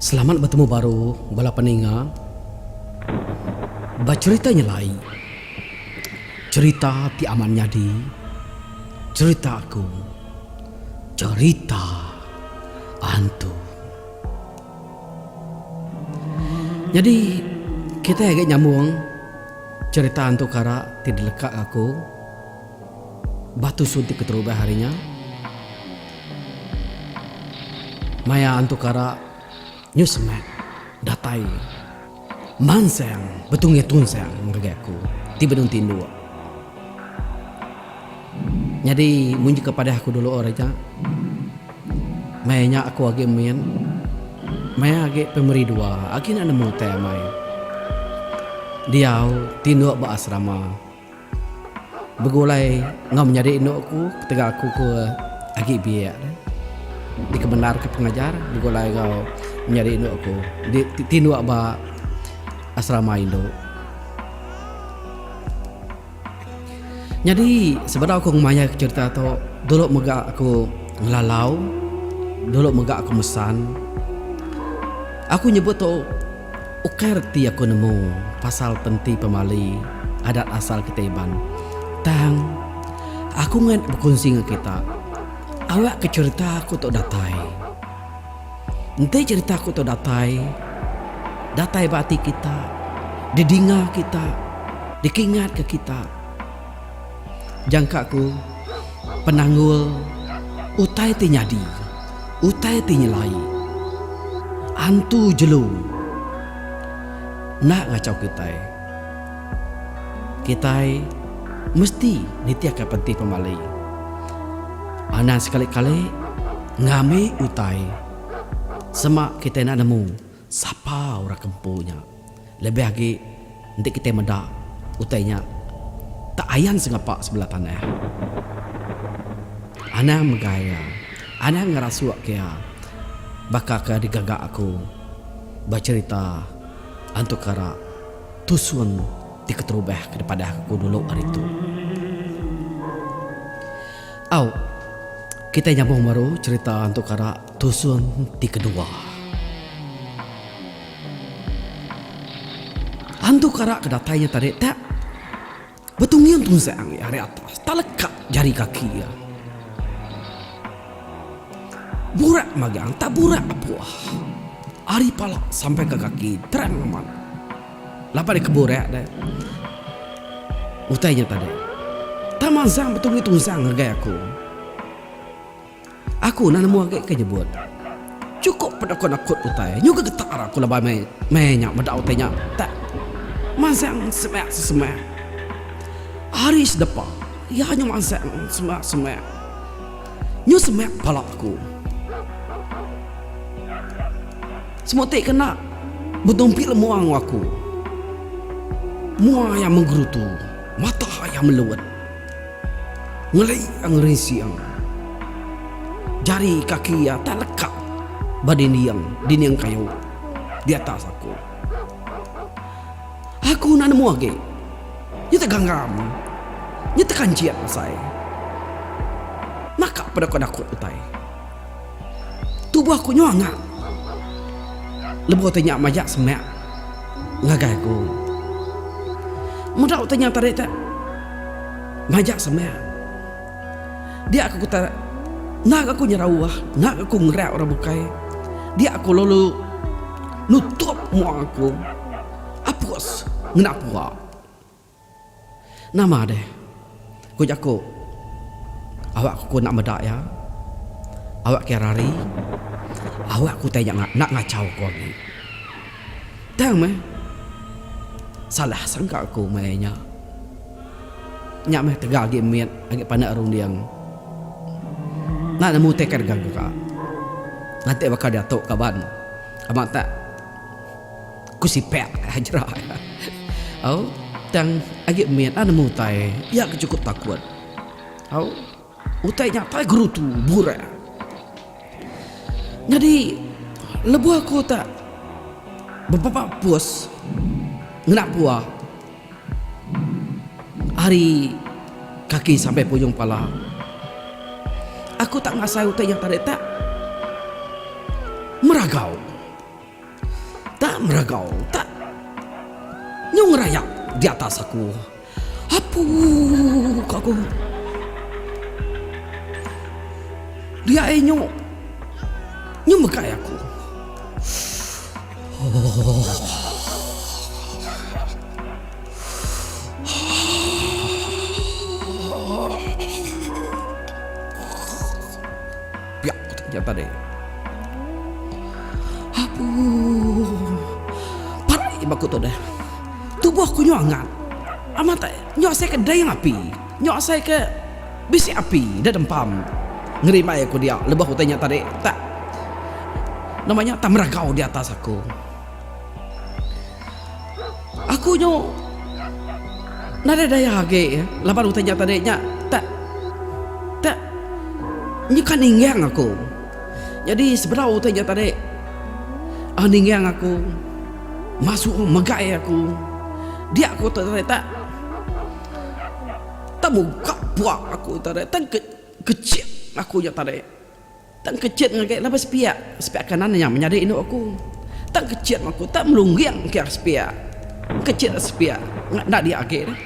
Selamat betemu baru bala peninga. Ba cherita nyelai, cherita ti amat nyadi, cherita aku, cherita antu. Nyadi kitai agi nyambung cherita antu kara ti dilekak aku. Batu suntik keterubah hari nya. Maya Antu Kara nyu semak datai mansang betungi tunsang ngagai aku ti benung tinduk. Nyadi munyi ke padah aku dulu hari nya, maya nya aku agi min, maya agi primari dua, agi enda nemu utai amai. Diau tinduk ba asrama. Begulai enggau menyadi indu aku ketegal aku ke agi biak ne. Dikemendarka pengajar begulai enggau menyadi indu aku di ti tinduk ba asrama indu. Nyadi sebedau aku ngemaihka cherita tu dulu mega aku ngelalau, dulu mega aku mesan. Aku nyebut tu. Ukar ti aku nemu pasal penti pemali adat asal kitai Iban. Tang, aku ngan bekunsi enggau kita, awakka cherita aku tu datai. Enti cherita aku tu datai, datai ba ati kita, didinga kita, dikingatka kita. Jangka ku, penanggul utai ti nyadi, utai ti nyelai antu jelu enda ngachau kitai. Kitai mesti nitihka penti pemali anang sekali-kali ngambi utai sema kitai enda nemu. Sapa orang ke empu nya? Lebih agi, enti kitai meda, utai nya tak ayan sengapa sebelah tanah. Anang megai iya. Anang ngerasuk ke iya baka ke digaga aku ba cherita Antu Kara Tusun ti keterubah ke dipadah aku dulu hari tu. Au, kitai nyambung baru cherita Antu Kara. Tusun ti kedua. Tantu ke arak ke datai nya tadi tak betungiung tunzang iya ari atas taleka jari kaki iya. Burak magang tak burak apuh. Ari pala sampai ke kaki terang amat. Laban iya ke burak deh utai nya tadi. Tang manzang betungi tunzang ngagai aku. Aku enda nemu agi ke nyebut. Chukup pedekun akut utai nyu ke getar aku laban meh meh nya meda utai nya tak mansang semak sesemak. Hari sedepa iya nyu mansang semak semak nyu semak pala aku. Semua ti kena betumpi lemua enggau aku. Mua iya menggerutu, mata iya meluut. Ngeli iya ngerinsing. Jari kaki iya tak leka ba dinding, dinding kayu, di atas aku. Aku enda nemu agi. Nya teganggam. Nya tekanjit asai. Naka peda ku dakut utai. Tubuh aku nyau anga. Lebuh utai nya majak semak ngagai aku. Meda utai nya tadi tu majak semak. Dia aku kata enda ga aku nyerau ah, enda ga aku ngerak orang bukai. Dia aku lalu nutup mua aku. Apus ngena pua. Nama deh? Ku jaku. Awak ku enda meda iya. Awak kiya rari. Awak ku utai nya enda ngachau ku agi. Tang meh. Salah sangka aku maya nya. Nya meh tegal agi mit agi pandak runding. Enda nemu utai ke gaga ka. Lantik baka diatu kaban. Ama tak. Ku Sipek aja. Au. Tang agi mit ah nemu utai iya ke chukup takut. Au. Utai nya tai gerutu, burak. Nyadi lebuh aku ta bebaba pus ngena puah ari kaki sampai ke ujung pala, aku ta ngasai utai nya tadi tak meragau. Tak meragau, tak nyu ngerayak di atas aku. Apu! ko aku. Dia ai nyu nyu megai aku. Ooh. Piak ku tang jantan ai. Apuuh. Pat ai ba ku tu deh. Tubuh ku nyau angat. Amat ai. Nyau asai ke dei ngapi. Nyau asai ke bisi api da dempam. Ngerimbai aku dia lebuh utai nya tadi tak nama nya tak meragau di atas aku. Aku nyu nadai daya agi laban utai nya tadi nya tak tak nyuka ninggang aku. Nyadi sebedau utai nya tadi uhh ninggang aku masu megai aku dia aku tu tadi tak tak muka puak aku tadi tak kecik aku nya tadi. Tang kecit ngagai laban sepia, sepia kanan nya menyadi indu aku. Tang kecit meh aku tak melungging engkah ari sepia. Kecit ari sepia nya enda dia agi dah.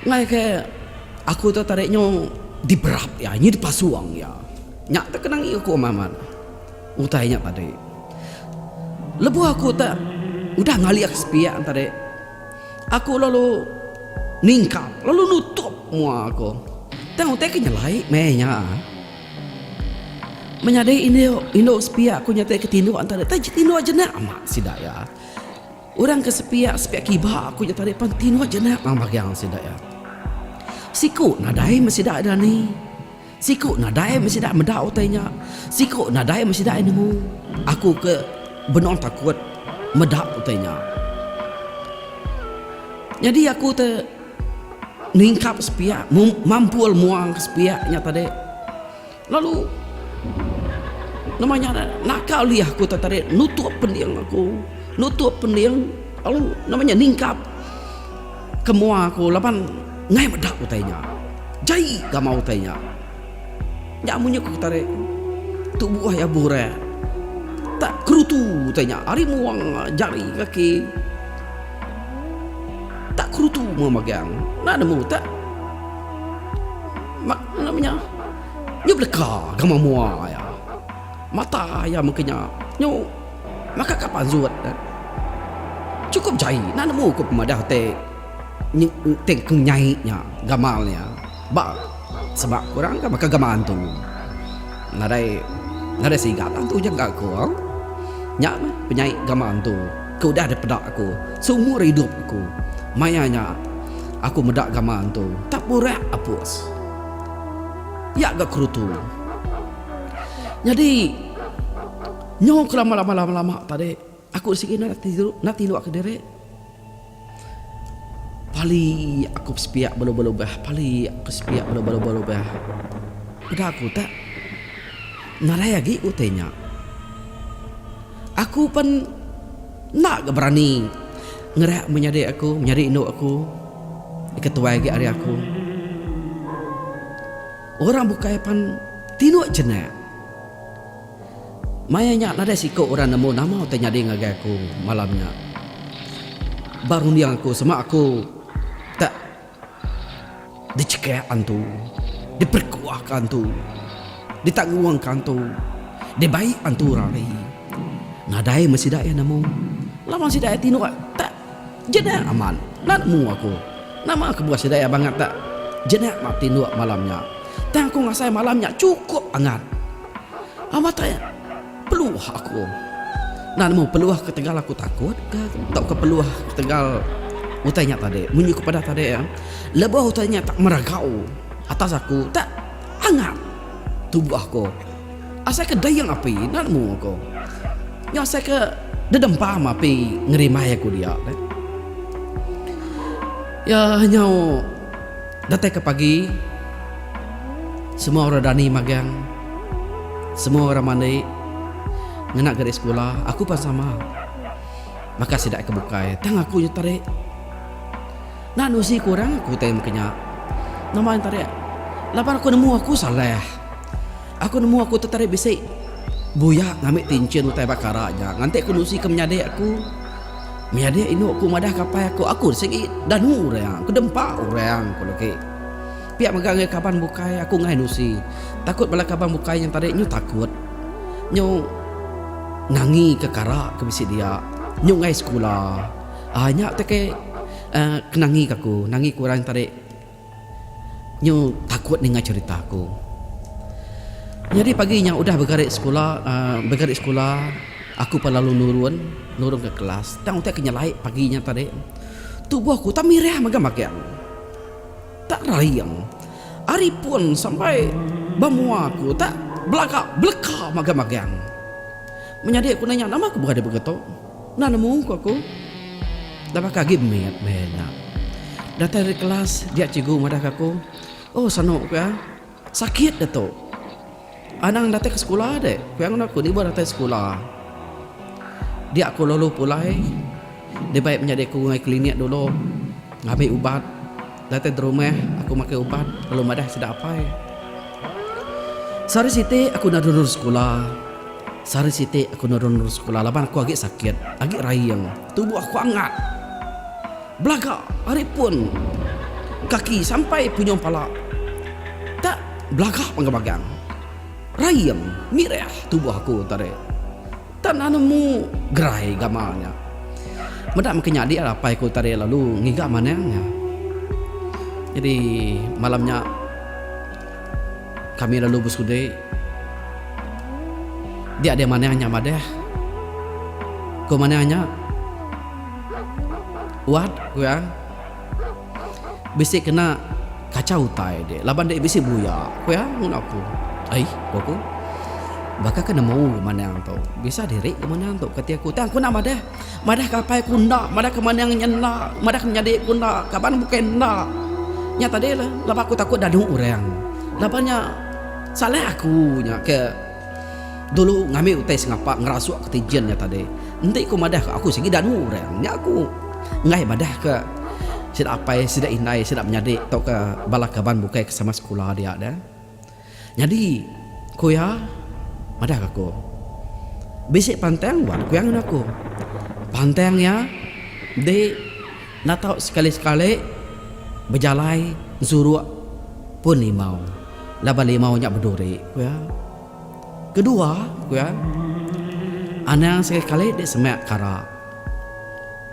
Ngagai aku tu tadi nyu diberap iya, nyu dipasung iya. Nya tu kena ngiu aku amat-amat utai nya tadi. Lebuh aku tak udah ngaliak sepia tadi. Aku lalu ningkap lalu nutup mua aku. Tang utai ke nyelai meh nya. Menyadi indu indu sepiak aku nya ke tinduk enta deh taja tinduk jenak ama sida iya. Orang ke sepiak sepiak kiba aku nya tadi pan tinduk jenak bagi sida iya. Siku nadai meh sida dani. Siku nadai meh sida meda utai nya. Siku nadai meh sida nemu. Aku ke benung takut meda utai nya. Nyadi aku te ningkap sepiak, mampul muang ke sepiak nya tadi. Lalu nama nya ngaran ne, naka ulih aku te tadi nutup pending aku, nutup pending lalu nama nya ningkap. Ke mua aku laban ngai meda utai nya. Jai gamal utai nya. Nya munyi ku Ketarik tu buah iya burai. Tak kerutu utai nya ari muang jari kaki. Tak kerutu mua magang. Enda nemu tak mak nama nya nyu beleka gamal mua iya. Mata iya mengkanya nyu. Maka ka panzut ne, Chukup jai enda nemu ku pemadah te te ku nyai nya gamal nya ba seba ku orang ka baka gamal antu. Nadai nadai siga tang tu nyengka aku. Nya meh penyai gamal antu ke udah dipeda aku seumur idup aku. Maya nya aku meda gamal antu tak burak apus iya ga kerutu. Nyadi. Nyau ke lama lama lama lama tadi aku sigi enda enda tilu ke diri. Pali aku besepiak belubah lubah pali aku besepiak belubah lubah lubah. Peda aku tak nadai agi utai nya. Aku pen enda ga berani ngereak menyadi aku menyadi indu aku ika tuai agi ari aku. Orang bukai pan tilu jenak. Maya nya nadai siku orang nemu nama ti nyadi ngagai aku malam nya. Ba runding aku sema aku tak dichekah antu, diperekuah ka antu, ditanggung ka antu, dibai antu rari. Nadai meh sida iya nemu laban sida iya tinduk tak Jenak amat, nan mu aku. Nama kebuah sidai abang atak jenak mak tinduk malam nya. Tang aku ngasai malam nya chukup angat. Amatai peluh aku. Nan mu peluh ketegal aku takut ka tauka peluh ketegal utai nya tadi. Munyi ku peda tadi lebuh utai nya tak meragau atas aku tak angat tubuh aku. Asaika dayang api enda nemu aku. Nya asaika dedempam api ngerimbai aku dia. Ya nyau datai ke pagi semua orang dani magang semua orang mandi ngena gari sekula aku pan sama baka sida ke bukai tang aku nya tadi enda nusi kurang aku utai maka nya nama nya tadi laban aku nemu aku salah. Aku nemu aku tetarik bisi buyak ngambi tinchin utai bakara nya nganti aku nusi ke menyadi aku. Menyadi indu aku madah ke apai aku, aku sigi danu orang ke dempa orang ku legi. Pia mega ngagai kaban bukai aku ngain nusi. Takut bala kaban bukai nya tadi nyu takut. Nyu nangi ke kara ke bisi dia. Nyu ngain sekula. Aaa nya utai ke aaa ke nangi ke aku, nangi ke orang tadi. Nyu takut ninga cerita aku. Nyadi pagi nya udah begari sekula begari sekula aku pan lalu nurun nurun ke kelas tang utai ke nyelai pagi nya tadi tubuh aku utai mirih mega magang utai raing ari pun sampai ba mua aku utai belaga beleka mega magang menyadi aku nanya nama ku beradik begitu. Enda nemu, ku aku. Enda baka agi mit meh nya. Datai ari kelas, dia cikgu madahka aku. Oh, sanu, ku iya. Sakit dia tu. Anang datai ke sekula dek, ku iya ngena aku niba datai sekula. Dia aku lalu pulai dibai menyadi aku ngai klinik dulu ngambi ubat. Datai derumah aku makai ubat lalu madah sida apai. Sehari siti aku enda nurun sekula. Sehari siti aku enda nurun sekula laban aku agi sakit, agi raing, tubuh aku angat. Belaga ari pun kaki sampai punyung pala. Tak belaga panggang-panggang. Raing, mirih tubuh aku tadi. Tan anu nemu gerai gamal nya. Meda mungkin nyadi lah apai ku tadi lalu ngiga manang nya. Jadi malam nya kami lalu besudi dia dia manang nya madah. Ku manang nya Wat ku iya. Bisi kena kachau utai dek laban dek bisi buya, ku iya ngun aku. Ai, ku aku. Baka ke nemu ke manang tu. Bisa diri ke manang tu, kati aku. Tang aku enda madah. Madah ke apai aku enda, madah ke manang nya enda, madah ke menyadi aku enda, kaban bukai enda. Nya tadi lah laban aku takut dadu orang. Laban nya salah aku nya ke. Dulu ngambi utai sengapa ngerasuk ke ti Jin nya tadi. Enti ku madah ke aku sigi danu orang nya ku enggai madah ke sida apai sida indai sida menyadi tauka bala kaban bukai ke sama sekula dia deh. Nyadi ku iya madah ke aku bisi pantang buat ku iya ngan aku. Pantang iya di. Enda tau sekali-sekali bejalai ensuruk pun limau laban limau nya beduri, ku iya. Kedua, ku iya, anang sekali-sekali dek semak kara.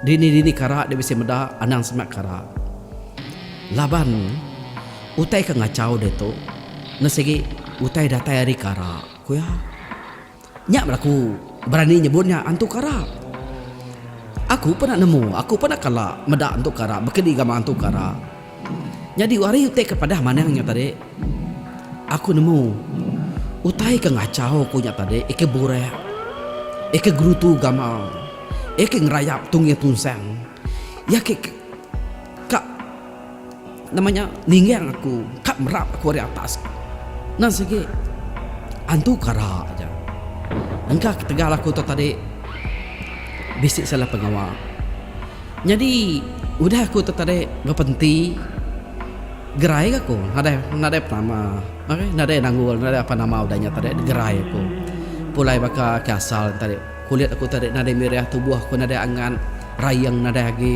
Dini-dini kara dek bisi meda anang semak kara. Laban utai ke ngachau ditu ne sigi utai datai ari kara, ku iya. Nya belaku. Berani nyebut nya antu karap. Aku pernah nemu, aku pernah kala meda antu karap bekedi gamak antu karap. Nyadi ari utai ke padah manang nya tadi, aku nemu utai ke ngachau ku nya tadi iya ke burak, iya ke gerutu gamal, iya ke ngerayap tungi tunsang, iya ke ka. Nama nya ninggang aku ka merap aku ari atas endang sigi antu kara aja. Engka ketegal aku tu tadi bisi salah pengawa. Nyadi udah aku tu tadi bapa enti gerai aku nadai penama nadai nangul nadai apa nama udah nya tadi gerai aku pulai baka ke asal tadi. Kulit aku tadi nadai mirih, tubuh aku nadai angat, rayeng nadai agi.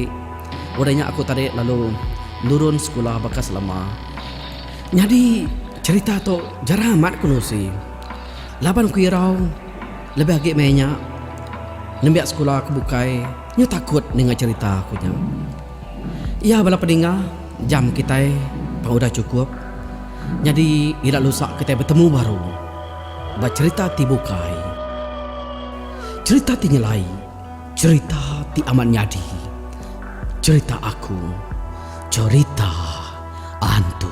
Udah nya aku tadi lalu nurun sekula baka selama. Nyadi cherita tu jarang amat aku nusi. Laban aku irau lebih agi meh nya nembiak sekula aku bukai nyu takut ninga cherita aku nya. Iya bala peninga, jam kitai pan udah chukup. Nyadi ila lusa kitai betemu baru. ba cherita ti bukai. Cherita ti nyelai, cherita ti amat nyadi. Cherita aku, cherita antu.